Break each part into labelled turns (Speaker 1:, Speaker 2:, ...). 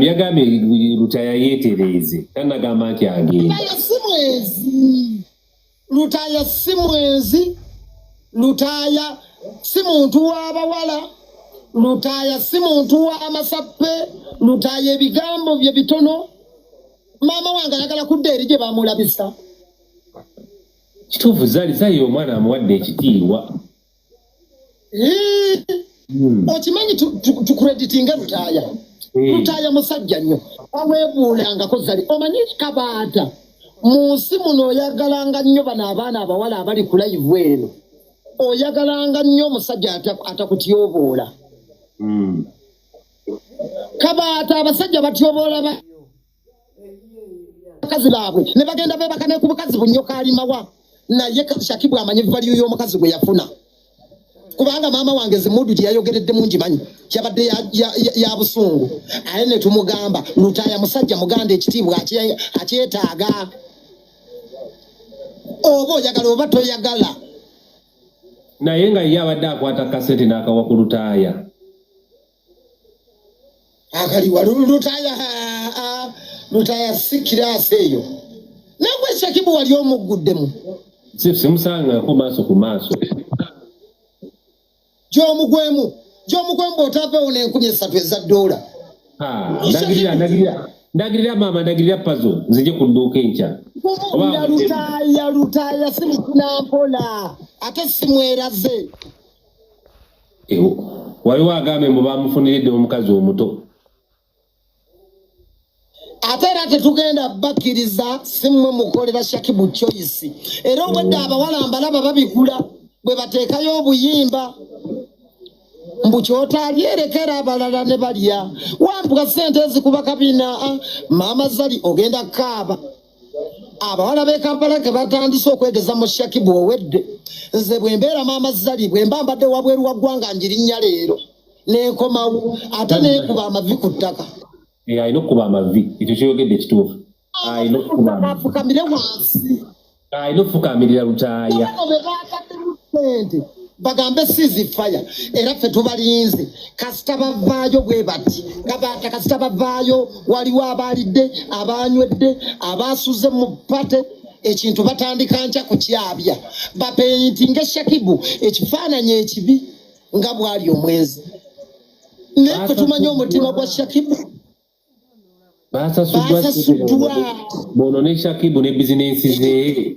Speaker 1: yagambye lutaya yetereeze tanagamba nti agenda
Speaker 2: lutaya si mwenzi lutaya si muntu w'abawala lutaya si muntu w'amasappe lutaya ebigambo bye bitono maama wange ayagala kudda eri gye bamulabisa
Speaker 1: kituufu zali zayi omwana amuwadde ekitiibwa
Speaker 2: Hmm. okimanyi tukureditinge lutaaya hmm. lutaaya musajja nnyo aweebuulangako zali omanyi kabaata mu nsi muno oyagalanga nnyo bano abaana abawala abali ku layivu eno oyagalanga nnyo omusajja atakutyoboola hmm. kabaata abasajja batyoboola bakazi baabwe ne bagenda beebaka ne ku bukazi bunnyo kaalimawa naye shakibu amanyi valiyo y'omukazi gwe yafuna kubanga maama wange zimudu gye yayogeredde mungi manyi yabadde ya busungu aye ne tumugamba lutaaya musajja muganda ekitiibwa akyetaaga oba oyagala oba toyagala
Speaker 1: naye nga ye abadde akwata kasente n'akawa ku lutaaya
Speaker 2: akaliwa lutaya lutaya si kiraasi eyo nagwe shakibu wali omugguddemu simusangako
Speaker 1: maaso ku maaso
Speaker 2: gyomugwemu gyomugwemu bwotavewo nenkumi esatu eza doola ndagirira ndagirira
Speaker 1: ndagirira maama ndagirira pazo nzije ku dduuka enkya lutaaya
Speaker 2: lutaaya simukuna mpola ate simweraze
Speaker 1: waliwo agambye mbu bamufuniridde omukazi omuto
Speaker 2: ate era tetugenda bakkiriza simwe mukolera shakibu choice era obwedde oh. abawala mbalaba babigula bwe bateekayo obuyimba mbu kyotalyerekera abalala ne balya wambuka sente ezikuba kabina ah, maama zali ogenda kaaba abawala b'e kampala ke batandise okwegeza mu shakibu owedde nze bwe mbeera maama zali bwe mba mbadde wabweru wa ggwanga njirinnya leero nenkomawo ate nekuba amavi ku ttaka eh, alina okukuba
Speaker 1: amavi ekyo kyoyogedde kituufu alina okukubafukamire
Speaker 2: wansi alina
Speaker 1: okufukamirira lutaaya
Speaker 2: bagambe sizi faya era ffe tubalinze kasita bavaayo bwe bati kabaata kasita bavaayo waliwo abaalidde abaanywedde abaasuze mu pate ekintu batandika nkya kukyabya bapeyinti ngaeshakibu ekifaananyi ekibi nga bwali omwenzi naye ffe tumanye omutima gwa shakibu
Speaker 1: baasasuddwa bono ne shakibu ne bizinensi zee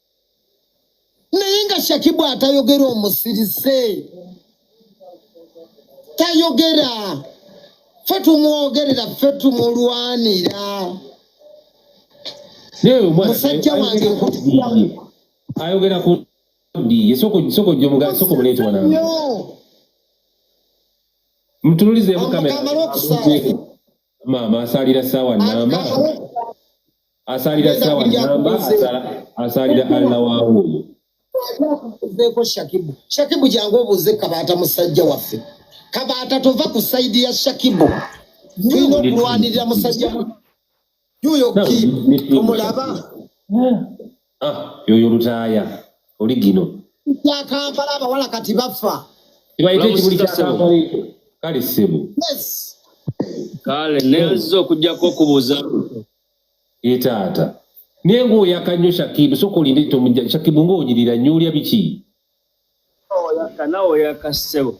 Speaker 2: naye nga shakibu atayogera omusirise tayogera fe tumwogerera fe tumulwanira musajja wange
Speaker 1: ayogera ku ndiye soko soko jomuga soko mulete wana mtunulize kamera mama asalira sawa namba asalira sawa namba asalira alla waawo oyo
Speaker 2: shakibu shakibu jangu obuuze kabaata musajja waffe kabaata tova ku saidi ya shakibu tulina okulwanirira musajja yuyo ki omulaba
Speaker 1: ah, yoyo lutaaya oli gino kya kampala
Speaker 2: abawala kati bafa kibayita ekibuli
Speaker 1: kya kampala ekyo kale ssebo
Speaker 3: kale nezo okujjako okubuuza ye
Speaker 1: taata naye ngaoyaka nnyo shakibu soka olinde tomujja shakibu ngaonyirira nnyo olya biki
Speaker 3: oyaka nawe oyaka ssebo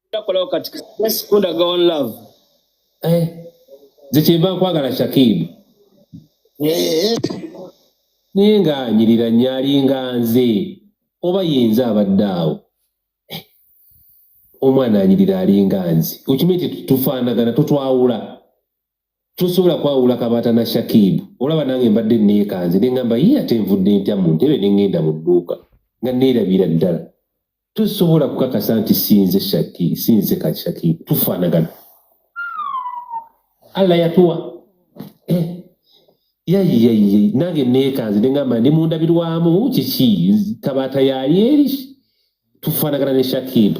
Speaker 3: takolawo kati just kundaga one love eh
Speaker 1: zekyemba nkwagala shakibu eh. naye nga anyirira nnyo alinga nze oba yenze abadde awo eh. omwana anyirira alinga nze okimanyi tetufaanagana totwawula tosobola kwawula kabaata na shakibu olaba nange mbadde neekanze ne ngamba ye ate nvudde ntya mu ntebe ne ngenda mu dduuka nga neerabira ddala tosobola kukakasa nti sinze shaki sinze ka shakibu tufaanagana allah yatuwa eh. yayiyayiye nange neekanze ne ngamba ndi mundabirwamu kiki kabaata yali eri tufaanagana ne shakibu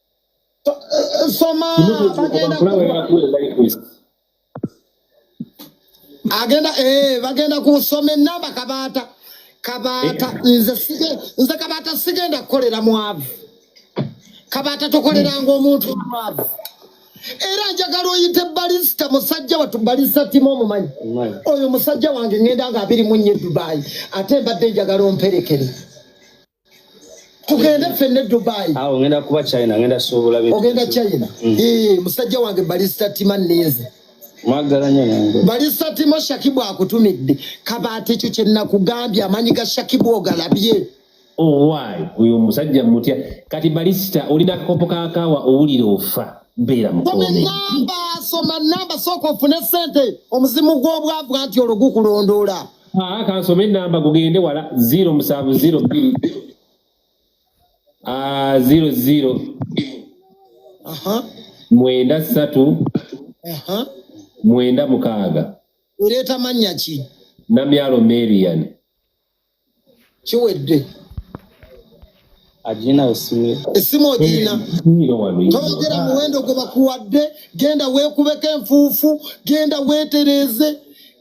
Speaker 2: soma agenda eh, bagenda kusoma enamba kabaata kabaata eh. nze kabaata sigenda kukolera mwavu kabaata tokoleranga omuntu mwavu era njagala oyite balisita musajja watu balisa timu omumanyi oyo musajja wange ngenda nga abiri munye dubai ate mbadde njagala omperekere tugende fenne dubai awo ah, ngenda kuba china
Speaker 3: ngenda suubula ogenda china mm.
Speaker 2: ee musajja wange balista tima ninze mwagala nyo
Speaker 3: nange balista tima shakibu
Speaker 2: akutumidde kabaati ekyo kyenakugambye amanyi ga shakibu ogalabye owayi
Speaker 1: oh, oyo omusajja mutya kati balista olina akakopo kakawa owulira ofa beera mukomeamba soma
Speaker 2: namba sooka ofune sente omuzimu gw'obwavu anti olwo gukulondoola Ah, kansoma
Speaker 1: enamba gugende wala zero musanvu zero bbiri ah, zero zero mwenda ssatu mwenda mukaaga ereeta mannya
Speaker 2: ki namyalo
Speaker 1: marian kiwedde
Speaker 2: agina
Speaker 3: essimu essimu ogirina
Speaker 2: togera muwendo gwe bakuwadde genda weekubeko enfuufu genda weetereeze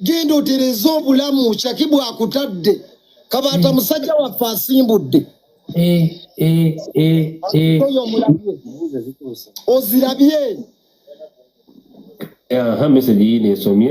Speaker 2: genda otereeze obulamu kyaki bwakutadde kabaata hmm. musajja waffe asimbudde eh, eh, eh, ozirabye
Speaker 1: aha message yine esomye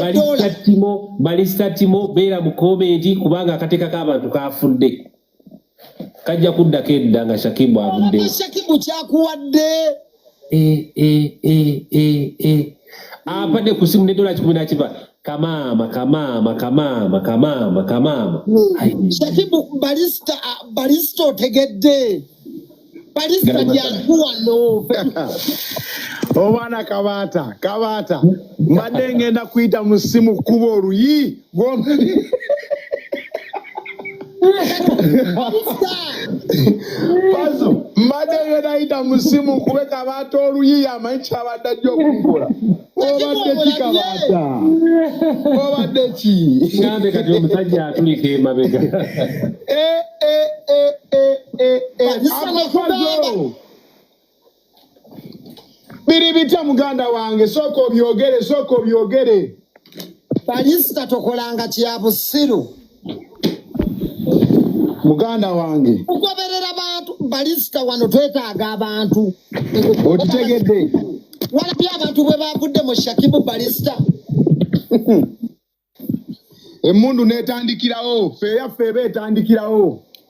Speaker 2: balistatimo balistatimo
Speaker 1: beera mu komenti kubanga akateeka k'abantu kafudde kajja kuddako edda nga shakibu avuddewo shakibu
Speaker 2: kyakuwadde eh,
Speaker 1: eh, eh, apadde ku simu nedola kikumi nakiva kamaama kamaama kamaama kamaama kamaama
Speaker 2: hmm. shakibu balisita otegedde
Speaker 4: obwana oh, kabaata kabaata mbadde ngenda kuyita mu simu kuba oluyi pazo mbadde ngenda yita mu simu kube kabaata oluyi yamanyi kyabadde ajja okugula obadde kikabaata obadde ki ngambe kati omusajja
Speaker 1: atulika emabega eh, eh, eh, amafazo
Speaker 4: biri bitya muganda wange sooka obyogere sooka obyogere
Speaker 2: balisita tokolanga kya busiru
Speaker 4: muganda wange okugoberera abantu
Speaker 2: balisita wano twetaaga abantu okitegedde
Speaker 4: walabye
Speaker 2: abantu bwe bavudde mu shakibu balisita
Speaker 4: emmundu n'etandikirawo feeyaffe eba etandikirawo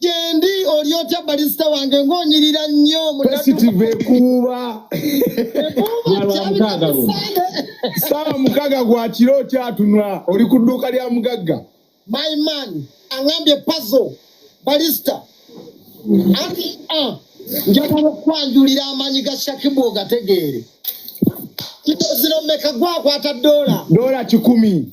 Speaker 4: gyendi
Speaker 2: oli otya balisita wange ng'onyirira nnyo positive ekuuba
Speaker 4: saawa mukaaga gwa kiro okyatunula oli ku dduuka lya mugagga my man
Speaker 2: aŋambye pazo balisita anti a ah, njagala okukwanjulira amaanyi ga shakibu ogategeere kino zino meka gwakwata doola doola kikumi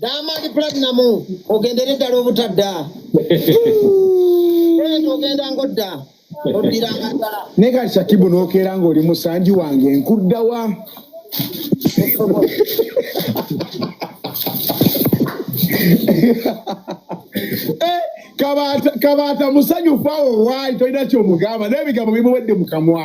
Speaker 2: Diamond Platinum ogendere ddala obutadda ogenda ngodda oddiranga ddala naye kati shakibu n'okeera
Speaker 4: ng'oli musanji wange nkuddawa eh, kabaata musanyufu awo waali tolina kyomugamba naye ebigambo bimuwedde mu kamwa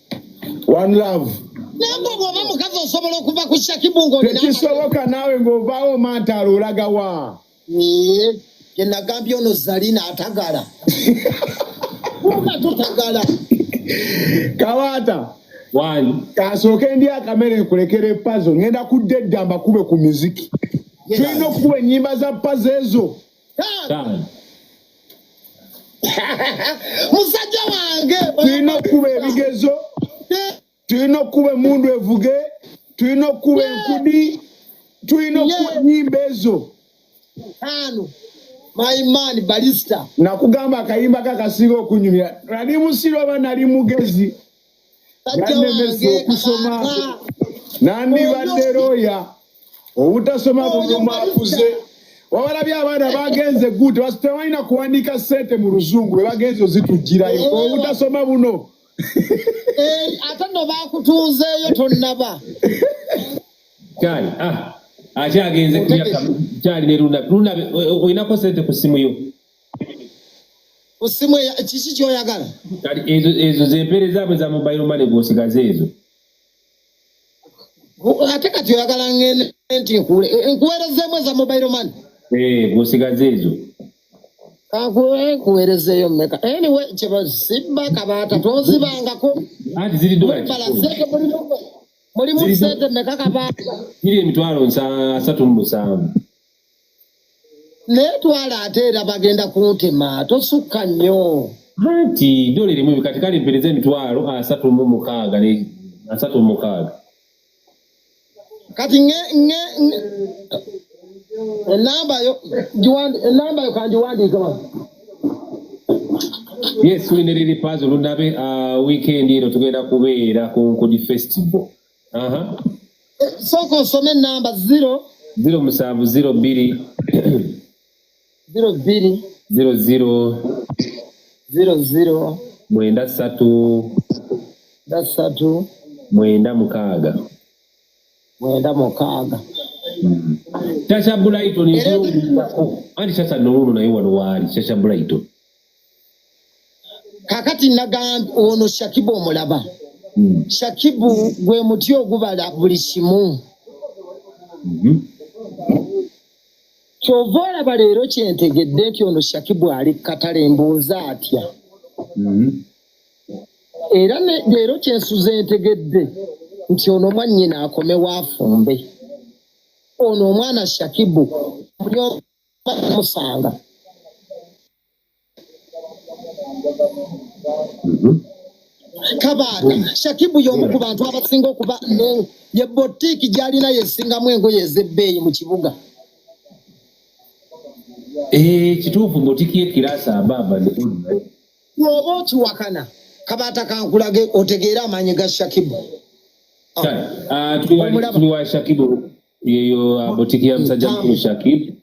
Speaker 4: One love. Nangwa bwaba
Speaker 2: mukazi osobola okuva ku shakibu ngo nina. Tekisoboka nawe ngo
Speaker 4: bawo manta alulaga wa. Ni ye
Speaker 2: nagambye ono Zalina atagala. Kuka tutagala.
Speaker 4: Kawata. Wani.
Speaker 1: Kasoke ndi
Speaker 4: akamere kulekere pazo. Ngenda kudedda mbakube ku muziki. Tulina okukuba ennyimba za pazo ezo. Taano.
Speaker 2: musajja wange tulina okukuba
Speaker 4: ebigezo tulina okukuba emundu evuge tulina okukuba enkudi tulina okukuba enyimba ezo ano
Speaker 2: my man balista nakugamba akayimba
Speaker 4: kakasinga okunyumira nali musiro oba nali mugezi yannemesa okusoma nandibadde looya obutasoma bumumakuze wabalabye abaana bagenze gud tebalina kuwandiika sente mu luzungu bwe bagenze ozitujjirayo oh. obutasoma buno eh,
Speaker 2: ate no bakutuuzeeyo tonnaba
Speaker 1: kyali ah, akyagenze kyali ne luna luna olinako sente ku simu yo
Speaker 2: osimu kiki kyoyagala kati ezo
Speaker 1: zempere zaabwe za mobile money gwosigaza ezo
Speaker 2: ate kati oyagala ngende nti nkule e, nkuwerezeemu eza mobile money eh, gwosigaza
Speaker 1: ezo
Speaker 2: nkuwerezeeyo meka anyway kyebazibba kabaata tozibangako anti ziri
Speaker 1: dola mulimu
Speaker 2: sente meka kabaata ziri emitwalo
Speaker 1: asatu mu musanvu
Speaker 2: naye twala ate era bagenda kuntema tosukka nnyo anti
Speaker 1: dole limu kati kale mpereza emitwalo asatu mu mukaaga ne asatu mu mukaaga
Speaker 2: kati nge nge enamba yo jiwandi enamba yo kanjiwandiika
Speaker 1: wa yes tulina eriri pazi olunabe uh, weekend eno tugenda kubeera ku nkudi festival
Speaker 2: sooka osome enamba ziro ziro musanvu ziro bbiri
Speaker 1: ziro
Speaker 2: bbiri ziro ziro ziro ziro mwenda ssatu mwenda ssatu mwenda mukaaga mwenda mukaaga
Speaker 1: hmm. kyakya bulayitoni anti kyakya nowuno naye wano waali kyakya bulayitoni
Speaker 2: kakati nagamba ono shakibu omulaba hmm. shakibu gwe muti ogubala buli kimu mhm. kyova olaba leero kyentegedde nti ono shakibu ali kukatale mbuuza atya mhm. era leero kyensuza entegedde nti ono mwannyina akomewo afumbe ono omwana shakibu musanga mhm. kabaaka shakibu y'omu ku bantu abasinga okuba ye botiiki gy'alina yesingamu engoye ez'ebbeeyi mu kibuga
Speaker 1: eh, kituufu botiiki yekiraasi abaaba
Speaker 2: oba okiwakana kabaata kankulage otegeere amaanyi ga shakibu
Speaker 1: ah, ah, tuli wa shakibu yeyo uh, botiki ya musajja mukulu shakib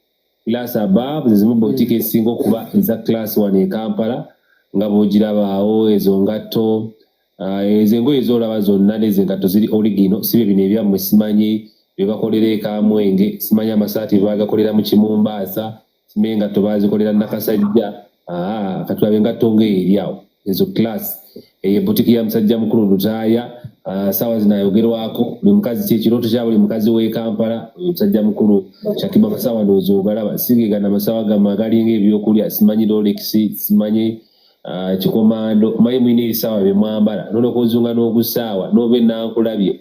Speaker 1: class abab zezimu botiki esinga okuba eza class wano ekampala nga bwogirabaawo ezo ngatto uh, ezo engoye zolaba zonna nezo engatto ziri oligino sibe bino ebyammwe simanyi bebakolera ekamwenge simanyi amasaati bebagakolera mu kimumbaasa n'engatto baazikolera nakasajja ah, katulabe engatto ng'eri awo ezo class eyo ebutiki ya musajja mukulu lutaaya ah, saawa zino ayogerwako buli mukazi kyekirooto kya buli mukazi w'e kampala oyo musajja mukulu shakiba masaawa ndowooza ogalaba sigegana masaawa gamu agalinga ebyokulya simanyi lolekisi simanyi Ah, kikomando maye mwine ebisawa byemwambala nolwokozunga nogusaawa nobe nankulabye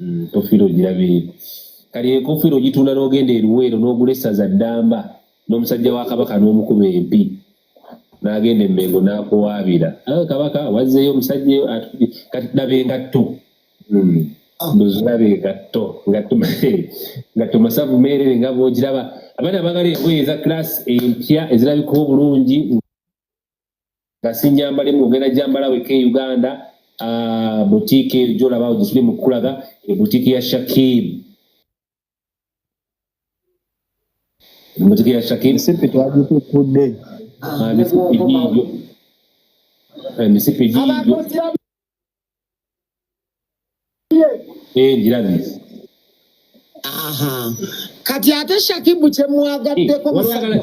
Speaker 1: Mm, tofiira ogirabire kale enkofiira ogitunda n'ogenda eruweero n'ogula essaza ddamba n'omusajja wa kabaka n'omukuba empi n'agenda emmengo n'akuwaabira awe kabaka wazzeeyo omusajja kati daba engatto mm, ndoziraba engatto ngatto masavu meerere nga bwogiraba abaana bagala engoye eza class empya ezirabika obulungi nga si nyamba limu ogenda gyambala weka e uganda ah, butiiki eyo gyolaba gisuli mu kukulaga ebutiiki ya shakib butiiki
Speaker 5: ya shakib misipi twagitukudde ah, misipi giigyo
Speaker 1: eh, misipi giigyo eh, ngirabi
Speaker 2: kati ate shakibu kyemwagaddeko eh,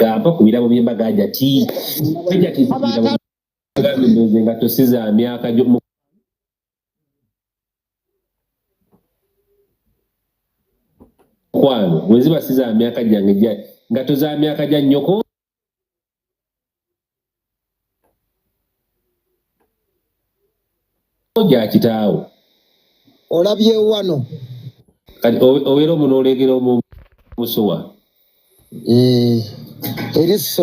Speaker 1: gamba ku birabo by'embaga ajati ajati nze nga tosiza myaka gyomu kwano bweziba siza myaka gyange gya ngato za myaka gya nnyoko gya kitaawo
Speaker 2: olabye wano kati
Speaker 1: obeera omu n'oleegera omusuwa
Speaker 2: eh,
Speaker 1: eriso